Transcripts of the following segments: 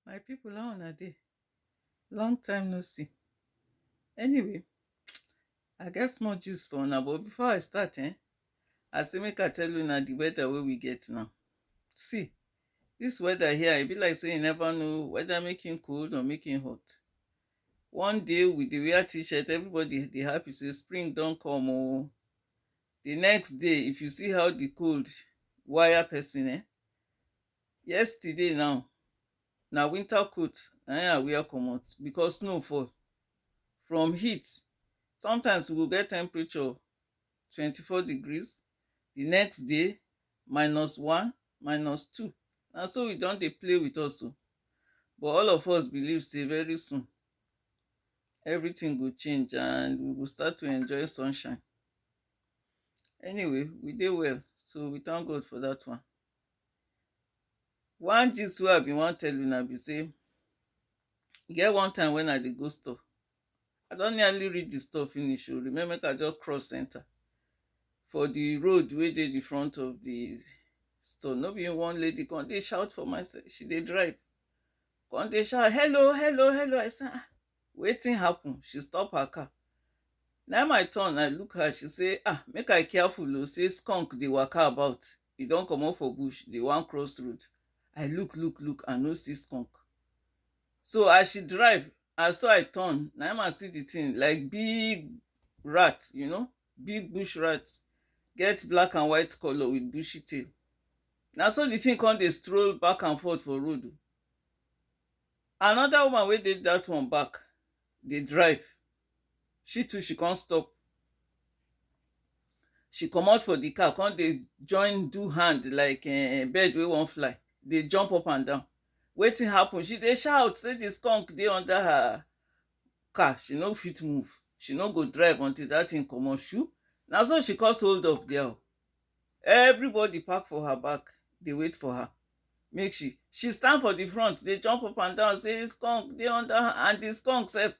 my people how una dey long time no see anyway i get small gist for una but before i start eh i say make i tell una the weather wey we get now see this weather here e be like say you never know whether make him cold or make him hot one day we dey wear t-shirt everybody dey happy say spring don come oh the next day if you see how the cold wire person eh Yesterday now, na winter coat na im I wear comot because snow fall. From heat, sometimes we go get temperature twenty four degrees, di next day minus one, minus two. Na so e don dey play with us o. But all of us believe sey very soon, everything go change and we go start to enjoy sunshine. Anyway, we dey well, so we thank God for dat one. One gist wey I be wan tell una be sey e get one time wen I dey go store I don nearly reach di store finish oh remain make I just cross enter for di road wey dey di front of di store no be one lady come dey shout for my side she dey drive come dey shout hello hello hello I say ah Wetin happen? She stop her car. Naim I turn I look her, she say ah make I careful o say skunk dey waka about, e don comot for bush dey wan cross road. I look look look I no see skunk. So as she drive na so I turn naim I see the thing like big rat you know big bush rat get black and white colour with bushy tail. Na so the thing come dey stroll back and forth for road o. Another woman wey dey that one back dey drive, she too she come stop, she comot for the car come dey join do hand like um bird wey wan fly, dey jump up and down. Wetin happen? She dey shout say the skunk dey under her car, she no fit move, she no go drive until that thing comot shoo! Na so she cause hold up there o. Everybody park for her back dey wait for her. make she she stand for the front dey jump up and down say skunk dey under her and the skunk sef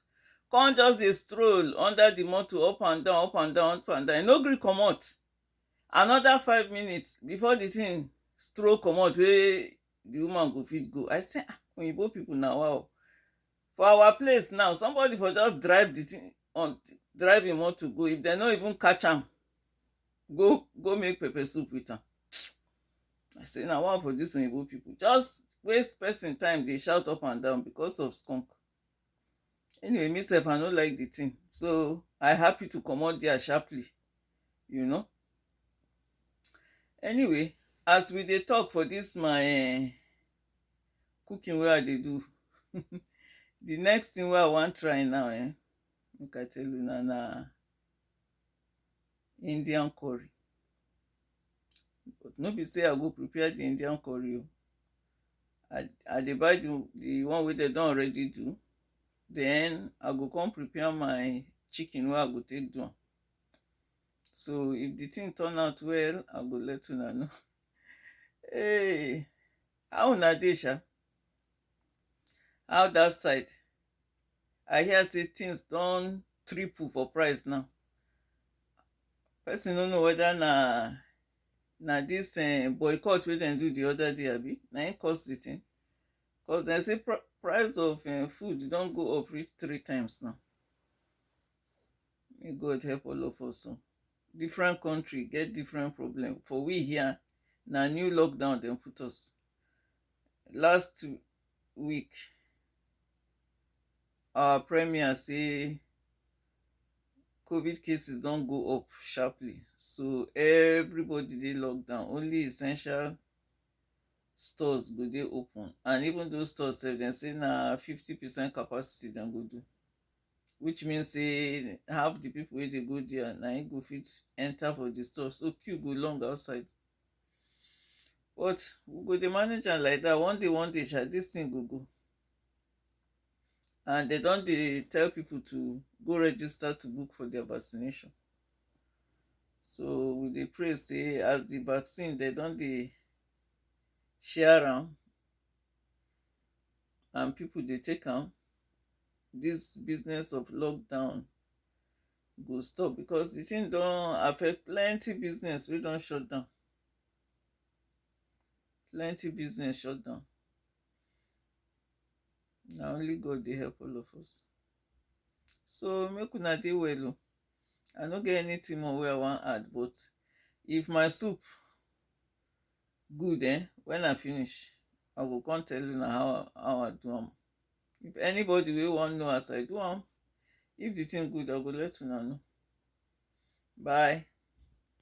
come just dey stroll under the motor up and down up and down up and down e no gree comot another five minutes before the thing stroll comot wey the woman go fit go i say ah oyinbo people na wa o for our place now somebody for just drive the thing on drive him want to go if they no even catch him, go go make pepper soup with him. i say now one for dis oyibo people just waste person time They shout up and down because of skunk anyway me sef i no like the thing so i happy to come out there sharply you know anyway as we dey talk for this my cooking wey I dey do the next thing wey I wan try now um make I tell una na Indian curry but no be say I go prepare the Indian curry o I I dey buy the the one wey dem don already do then I go come prepare my chicken wey I go take do am so if the thing turn out well i go let una know hey how una dey sha how that side i hear say things don triple for price now person no know whether na na this uh, boycott wey dem do the other day abi na im cause the thing cause dem say pr price of uh, food don go up reach three times now May God help all of us. oh. Different country get different problem. For we here, na new lockdown dem put us. Last week, our premier say COVID cases don go up sharply. So everybody dey lockdown. Only essential stores go dey open. And even those stores sef, dem say na fifty percent capacity dem go do. which mean say half the people wey dey go there na im go fit enter for the store so queue go long outside but we go dey manage am like that one day one day sha this thing go go and they don dey tell people to go register to book for their vaccination so we dey pray say as the vaccine they don dey share am and people dey take am this business of lockdown go stop because the thing don affect plenty business wey don shut down plenty business shut down na only god dey help all of us so make una dey well o i no get anything more wey i wan add but if my soup good eh when i finish i go come tell una how how i do am if anybody wey wan know as i do am if the thing good i go let una know bye